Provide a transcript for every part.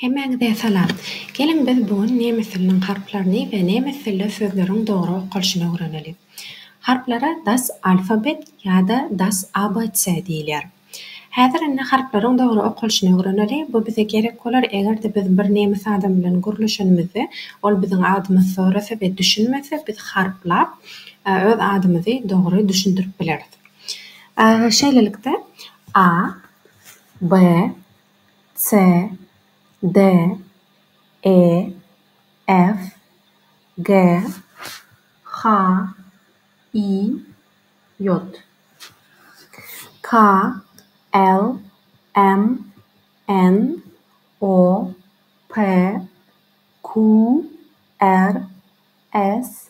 Hemmäňize salam. Geliň biz bu gün nemes diliniň harplaryny we nemes dilde sözleriň dogry okalyşyny öwreneliň. Harplara Das Alphabet ýa-da Das ABC diýilýär. Häzir indi harplaryň dogry okalyşyny öwreneli, bu bize gerek bolar eger-de biz bir nemes adam bilen gürleşenimizde ol biziň adymyzy sorasa we düşünmese biz harplap öz adymyzy dogry düşündirip bileris. Şeýlelikde, A, B, C, D, E, F, G, H, I, J, K, L, M, N, O, P, Q, R, S,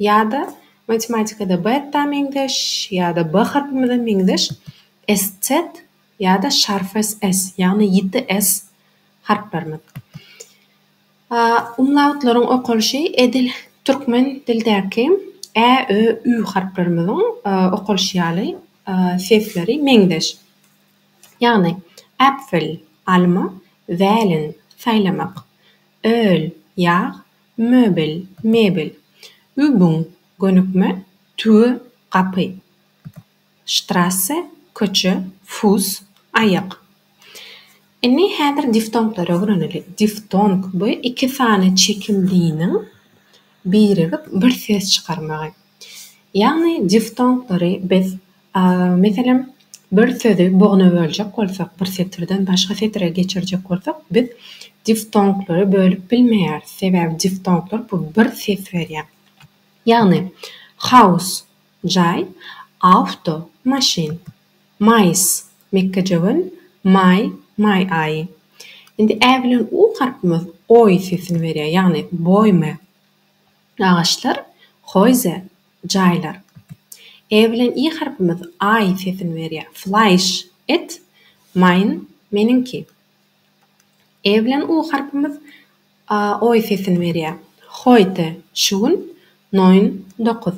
Ýa-da matematikada beta meňzeş, ýa-da b harpymyza meňzeş SZ ýa-da şarfs S, ýagny ýiti S harplarymyz. A umlautlaryň okalyşy edil türkmen dildäki ä, ö, ü harplarymyzyň okalyşy ýaly sesleri meňzeş. Ýagny, äpfel, alma, wäliň, saýlamak, öl, ýag, Möbel, mebel. Übüň, gönükme, tüwi, gapy. Strasse, köçe, fuss, aýak. Indi häzir diftonglary öwreneliň. Diftong, bu iki sany çekildiniň birigip bir ses çykarmagy. Ýagny diftonglary biz A Meselem, bir sözi bogna böljek bolsak, bir setirden başga setire geçirjek bolsak, biz diftonglary bölüp bilmeýäris, sebäbi diftonglar bu bir ses berýär. Ýagny, Haus, jaý, Auto, maşyn, Mais, mekgejöwen, Maý, maý aýy. Indi ä bilen u harpymyz oý sesini berýär, ýagny boýme. Agaçlar, Häuser, jaýlar. E bilen i harpymyz aý sesini berýär. Fleisch, et. Mein, meniňki. E bilen u harpymyz a, oý sesini berýär. Heute, şu gün. Neun, dokuz.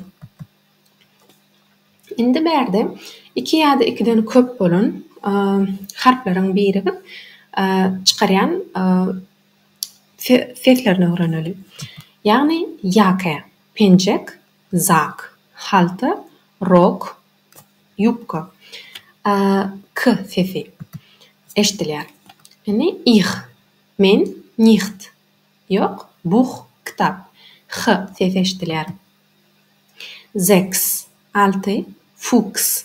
Indi bärde iki ýa-da ikiden köp bolan harplaryň birigip çykarýan seslerini öwreneli. Ýagny, ýake, penjek, zak, halta, rok, ýubka, a, k sesi eşidilýär. Indi ih, men, nicht, ýok, buh, kitap, h sesi eşidilýär. Sechs, alty, Fuchs,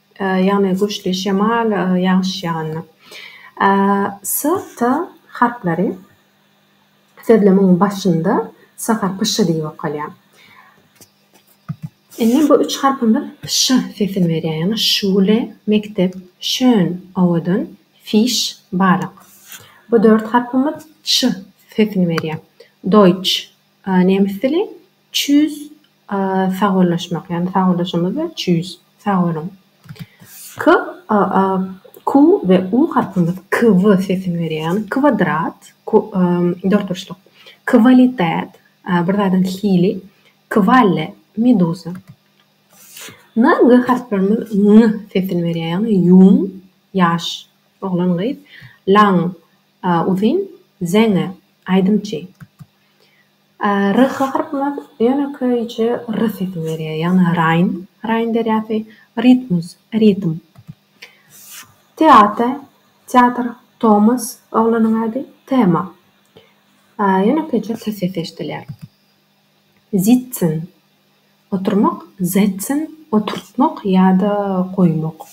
ýagny güýçli şemal, ýagyş ýaganda. Ä, s, t harplary sözlemiň başynda s harpy ş diýip okalýar. Indi bu üç harpymyz ş sesini berýär, ýagny şule, mekdep, şön, owadan, fiş, balyk. Bu dört harpymyz ç sesini berýär. Doýç, nemes dili, çüz, Sagbollaşmak ýagny sagbollaşamyz we çüýs. Sag boluň. K, a, a, Q we U harpymyz kw sesini berýär. Ýagny kwadrat, ku, dörtburçluk. Kwalitet, bir zadyň hili. Kvalle, meduza. N, G harplarymyz ng sesini berýär. Ýagny ýuň, ýaş, oglan, gyz. Laň, uzyn, zeňňe, aýdymçy. R harpymyz ýönekeýje r sesini berýär, ýagny raýn, Raýn derýasy, ritmus, ritm. Teate, teatr, Tomas, oglanyň ady, tema. Ýönekeýje t sesi eşidilýär. Zitsen, oturmak, setzen, oturtmak ýa-da goýmak.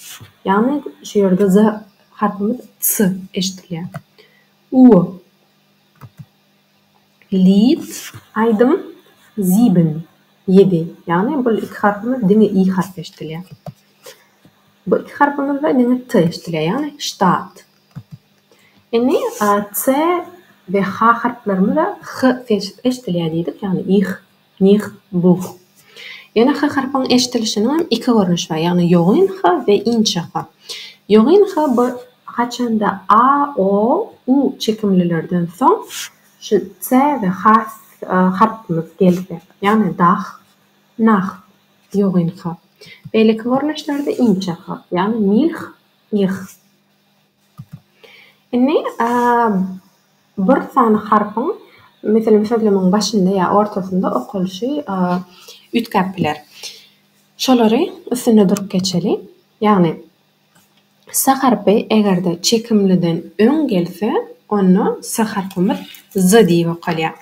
Ýagny şu ýerde z harpymyz s eşidilýär. U. Leads aýdym sieben, ýedi, ýagny bul iki harpymyz diňe i harpy eşdilýär. Bu iki harpymyzda diňe t eşdilýär, ýagny ştat. Indi a, c we h harplarymyzda h sesi eşdilýär diýdik, ýagny ih. Nih, buh. Ýöne ha harpyň eşdilişiniň hem iki görnüşi bar, ýagny ýogyn ha we inçe ha. Ýogyn ha bu haçanda a, o, u çekimlilerden soň şu s we h harpymyz gelse, ýagny dah, nah, ýogyn ha. Beýleki görnüşlerde inçe ha, ýagny milh, ih. Indi bir sany harpyň, meselem, sözlemegiň başynda ýa ortasynda okalyşy üýtgäp biler. Şolary üstünde durup geçeli. Ýagny, s harpy eger-de çekimliden öň gelse, onda s harpymyz z diýip okalýar.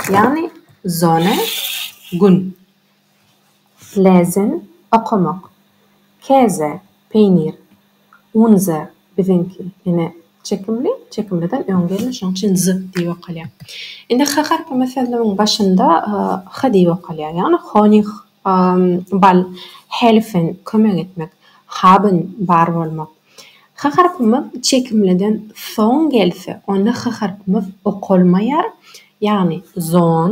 Ýagny, zona, gün. Släzen, okamak. Käse, peýnir. Unze, biziňki. Ine, çekimli, çekimliden öň geldi, şonuň üçin z diýip okalýar. Indi h harpy meselnamiň başynda h diýip okalýar, ýagny honig, bal, helfen, kömek etmek, haben, bar bolmak. H harpymyz çekimliden soň gelse, onda h harpymyz okalmaýar, ýagny zon,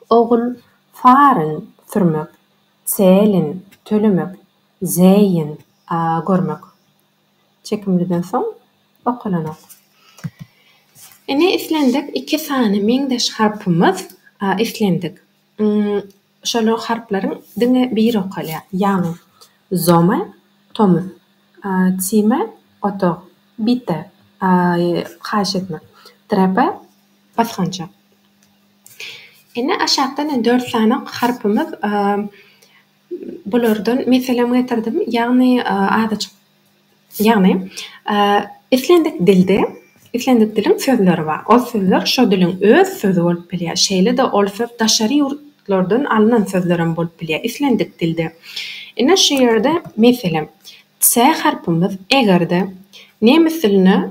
Ogul faryn sürmek, çelin tölemek, zeýin görmek. Çekimliden soň okalanok. Ine islendik iki sany meňzeş harpymyz islendik. Şol harplaryň diňe biri okalýar. Ýagny, zoma, tomuz. Çime, otag. Bite, haýyş etmek. Trepe, basgançak. Indi aşakdan ýene dört sany harpymyz bulardan meselem getirdim. Ýagny adaçyk ýagny islendik dilde Islendik diliň sözleri bar. Ol sözler şo diliň öz sözi bolup bilýär. Şeýle-de ol söz daşary ýurtlardan alnan sözlerem bolup bilýär. Islendik dilde. Ine şu ýerde meselem, ts harpymyz eger-de nemes diline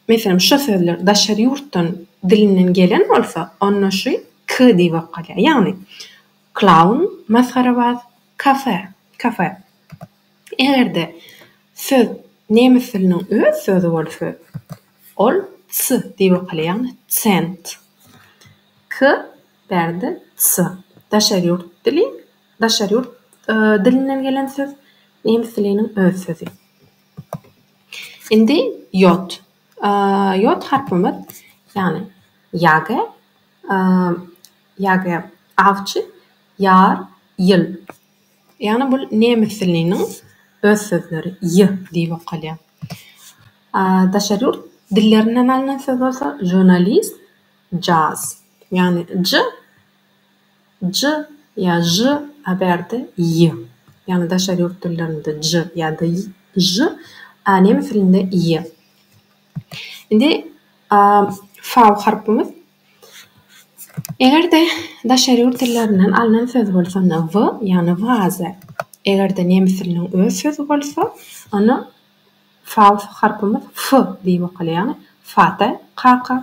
meselem şo sözler daşary ýurtdan dilinden gelen bolsa, onda şu k diýip okalýar. Ýagny, klaun, masgarabaz, kafe, kafe. Eger-de söz nemes diliniň öz sözi bolsa, ol ts diýip okalar, ýagny cent. K bärde ts. Daşary ýurt dili, daşary ýurt dilinden gelen söz, nemes diliniň öz sözi. Indi ýod. Ýod harpymyz, ýagny ýage, ýage awçy, ýar, ýyl. Ýagny bul nemes diliniň öz sözleri, y diýip okalýar. A daşary ýurt dillerinden alnan söz bolsa žurnalist, jaz. Ýagny j j ýa ž a bärde y. Ýagny daşary ýurt dillerinde j ýa-da y ž a nemes dilinde y. Indi a fau harpymyz Eger-de daşary ýurt dillerinden alnan söz bolsa onda w, ýagny waze. Eger-de nemes diliniň öz sözi bolsa, onda fau harpymyz f diýip okalýar, ýagny fata, kaka,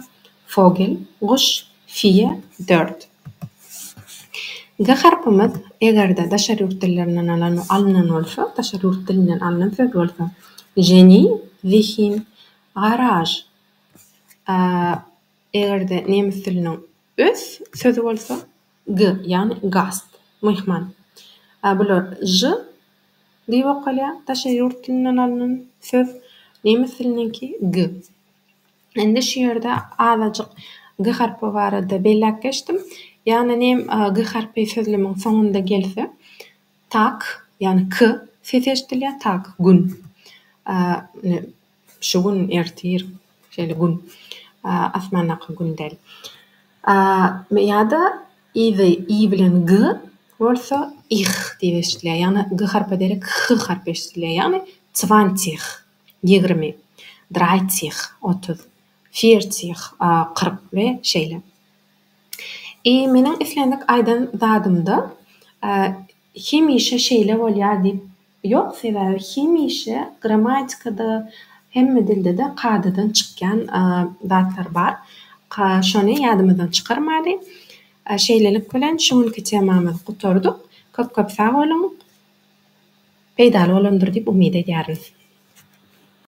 fogel, guş, fie, dört. G harpymyz, eger-de daşary ýurt dillerinden alan, alnan bolsa, daşary ýurt dilinden alnan söz bolsa, ženi, zihin, garaž, a, Eger-de nemes diliniň ös sözi bolsa, g, ýagny gast, myhman. A bular ž diýip okalýar, daşary ýurt dilinden alnan söz, nemes diliniňki g. Indi şu ýerde azajyk g harpy barada belläp geçdim. Ýagny nem g harpy sözlemiň soňunda gelse, tak, ýagny k sesi eşidilýär, tak, gün. A, Şu gün, ertir, şeýle gün, asmandaky gün däl. A ýa-da i we i bilen g bolsa ih diýip eşidilýär. Ýagny g harpy derek h harpy eşidilýär. Ýagny zwantih, ýigrimi, draitih, otuz, firtih, kyrk we şeýle. I meniň islendik aýdan zadymda hemişe şeýle bolýar diýip Ýok, sebäbi hemişe grammatikada, hemme dildede kadadan çykýan zatlar bar. Şony ýadymyzdan çykarmaly. Şeýlelik bilen şu günki temamyzy gutardyk. Köp-köp sag boluň. Peýdaly bolandyr diýip umyt edýärin.